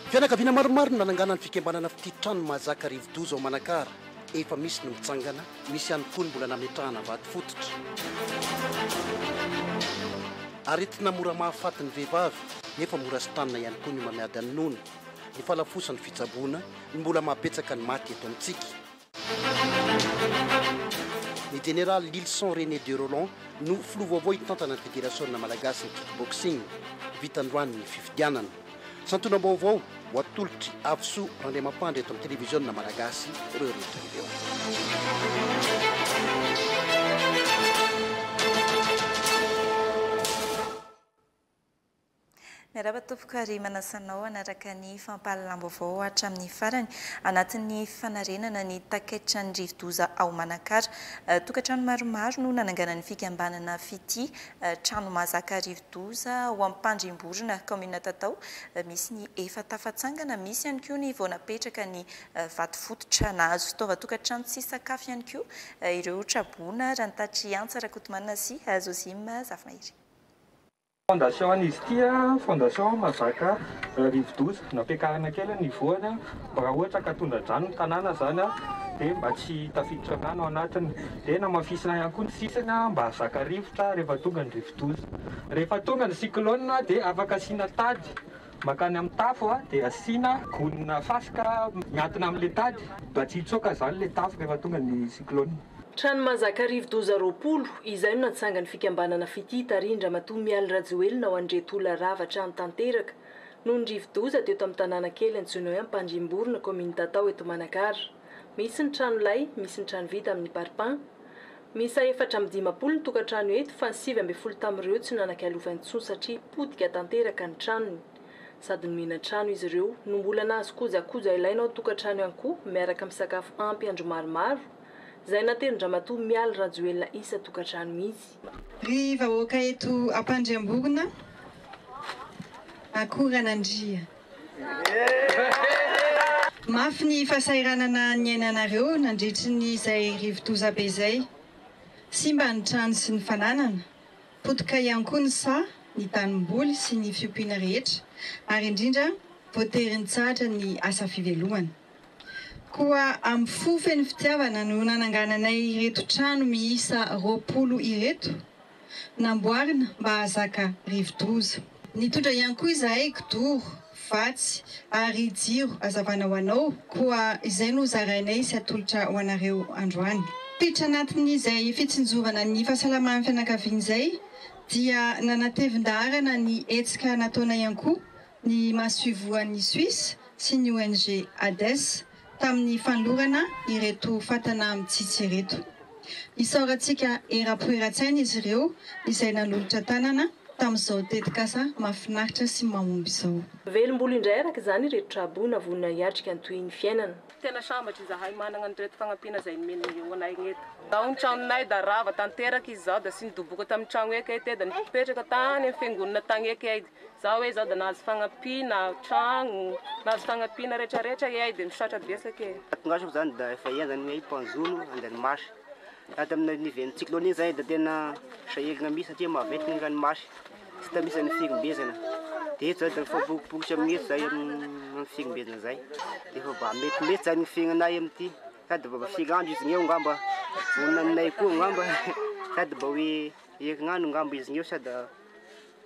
Fianakaviana maromaro no nanangana ny fikambanana Fitia Trano Mahazaka Rivodoza ao Manakara. Efa misy ny mitsangana, misy ihany koa ny mbola nametrahana vato fototra. Aretina mora mahafaty ny vehivavy, nefa mora sitranina ihany koa ny homamiady amin'ny nono. Ny fanafosan'ny fitsaboana no mbola mahabetsaka ny maty eto amintsika. Ny Jeneraly Lylison René de Rolland no filoha vaovao hitantana ny Federasiona Malagasy ny Kickboxing. Vita androany ny fifidianana. Santionam-baovao ho atolotr'i Avisoa Randriamampandry eto amin'ny Televiziona Malagasy ireo rehetra ireo. Miarahaba tompoko ary manasa anao hanaraka ny fampahalalam-baovao hatramin'ny farany anatin'ny fanarenana ny takaitran'ny rivodoza ao Manakara. Tokantrano maromaro no nananganan'ny fikambanana Fitia trano mahazaka rivodoza ao Ampandrimborona, kaominina Tatao, misy ny efa tafatsangana, misy ihany koa ny vao napetraka ny vato fototra. Nahazo fitaovan-tokantrano sy sakafo ihany koa ireo traboina, raha ny tatitry Antsa Rakotomanana sy Zozima Zafimahery. Fondation an izy ity an, fondation mazaka rivodoza, nampiakarina kely ny voany an, mba raha ohatra ka tondra-drano ny tanàna zany an, dia mba tsy tafiditra rano ao anatiny, dia namafisina ihany koa ny sisiny an, mba hahazaka rivotra rehefa tonga ny rivodoza, rehefa tonga ny cyclone an, dia afaka asiana tady makany amin'ny tafo an, dia asiana gony na fasika miankina amin'ilay tady mba tsy hitsoaka zany ilay tafo rehefa tonga ny cyclone. Trano mahazaka arivo-doza roapolo, izay no natsangan'ny fikambanana Fitia tarihin-dRamatoa Mialy Rajoelina ao Andriatola rava trano tanteraka noho ny rivo-doza teo tamin'ny tanàna kely antsoina hoe Ampandriamborona kaominina Tatao eto Manakara. Misy ny trano lay, misy ny trano vita amin'ny parpaing. Miisa efatra amby dimampolo ny tokantrano eto fa ny sivy ambin'ny folo tamin'ireo tsy nanan-kialova intsony satria potika tanteraka ny tranony. Sady nomena trano izy ireo no mbola nahazo kojakoja ilaina ao tokantrano ihany koa miaraka amin'ny sakafo ampy andro maromaro, izay natelin-dramatoa Mialy Rajoelina isan-tokantrano mihitsy. Ry vahoaka eto Ampandriamborona, akoran'Andria. Mafy ny fahasahiranana niainanareo nandritry ny izay rivodoza be izay. Simba ny trano sy ny fananana. Potika ihany koa ny saha, ny tanimboly sy ny fiompiana rehetra ary indrindra voatery nitsahatra ny asa fivelomana. Koa amin'ny fo feno fitiavana no nanangananay ireto trano miisa roapolo ireto, namboarina mba hahazaka rivo-doza. Nitondra ihany koa izahay kidoro. vatsy ary jiro azavana ho anao, koa izay no zarainay sy atolotra ho anareo androany. Tittra anatin'izay fitsinjovana ny fahasalaman'ny fianakaviana izay dia nanatevin-daharana ny hetsika nataonay ihany koa ny masoivohon'i Suisse sy ny ONG Hades tamin'ny fanolorana ireto fatana mitsitsy ireto. Isaorantsika eram-po eran-tsaina izy ireo izay nanolotra tanana tamin'izao tetikasa mahafinaritra sy mahomby izao. Velombolo indray araka izany ireto traboina vonona hiatrika ny tohin'ny fiainana. Tena sambatra izahay manana an'ireto fagnampiana izay nomen'ny eo anay ireto. Tao ny tranonay da rava tanteraka izy zao da sy nidoboka tamin'ny tragno eky ay te da nipetraka tany amin'ny fiangonana tagny eky ay. Za oe za da nahazo fagnampiana tragno, nahazo fagnampiana rehetra rehetra eay de misaotra betsaka e. Tato gasy moa zany da efa ela zany oe panzone andranomasy, raha tamin'ny niven'ny cyclone iny zay da tena sahirana mihitsy satria maventy ny ranomasy, tsy hita mihitsy zany ny firimbezana, de eto zany da mifampibokobokotry amin'io eto zahay amin'ny firimbezana zay, de efa mba mety mety zany ny fiainanay amin'ity, sady mba firy andro izy eo ngamba vonona aminay koa ngamba, sady mba oe herinandro ngamba izy eo sa da.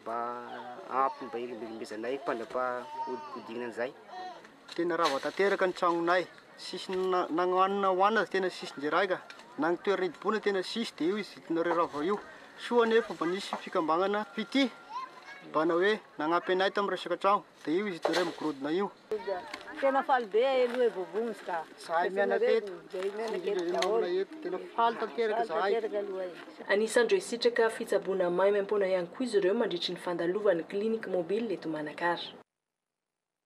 Mba ampy mba ilimbelimbezainay mpandrapahodikodina an'izay. Tena rava tanteraka ny tragnonay, tsisy na ny hanina hohanina aza tena tsisy ndray raiga, na ny toerana hidiboana tena tsisy dia io izintinareo rava io. Soa anefa mba nisy fikambanana fitia mba nanao hoe nagnampy anay tamin'ny resaka tragno. Dia io izy telo iray migorodona io. Tena faly be ahay aloha e Vovons ka. Zahay mianaka eto, sy indrindra ireo namana eto. Tena faly tanteraka zahay. Anisan'ireo hisitraka fitsaboana maimaim-poana ihany koa izy ireo mandritry ny fandalovan'ny Clinique Mobile eto Manakara.